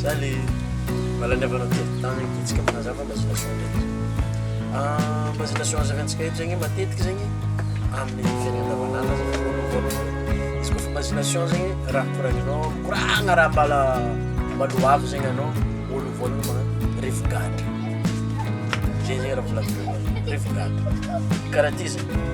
Za le mahalany avana telo tany Titsika manazava mba zina soa ndraiky ah, Mba zina soa hazaventsika eto zegny matetiky zegny Amin'ny fiainana andavanandro zegny voalohany voalohany Izy kôfa mba zina soa zegny raha koragninao Mikoragna raha mbala mbala ho avy zegny anao Voalohany voalohany magnano rivo-gadra Zay zegny raha volavolagniko Rivo-gadra Karaha ty zegny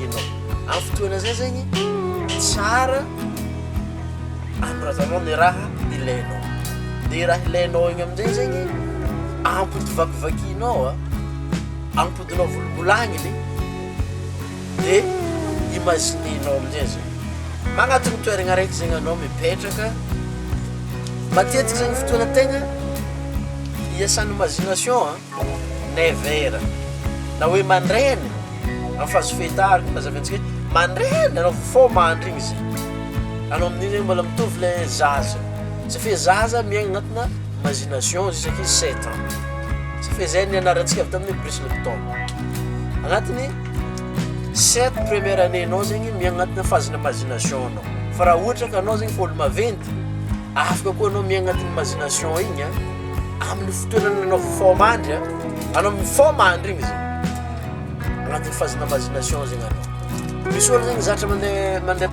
ianao. Amin'ny fotoana izay zegny tsara anoratanao ny raha ilainao. Dia raha ilainao igny amin'izay zegny ampodivakivakinao a, ampodinao volambolagniny dia imaginer-nao amin'izay izy io. Magnatona toerana araiky zegny anao mipetraka, matetika zegny fotoana tegna iasan'ny imagination a. Never. Na hoe mandraina amin'ny fazofeta araka ny nazavain'i Tsikaty, mandraina ianao vao foa mandry igny zay. Anao amin'igny zany mbola mitovy le zaza. Ça fait zaza miaigna agnatina imagination juska izy sept ans. Ça fait zay nianarantsika avy tamin'ny Bruce Lipton. Agnatin'ny sept première année-nao zegny miaigna agnatina phase-n'ny imagination-nao. Fa raha ohatra ka anao zegny efa olo-maventy, afaka koa anao miaigna agnatin'ny imagination igny a. amin'ny fitoerana nanao forme andry an anao miforme andry igny zegny agnatin'ny phase-na vazination zegny anao misy olo zegny zatra mandeha mandeha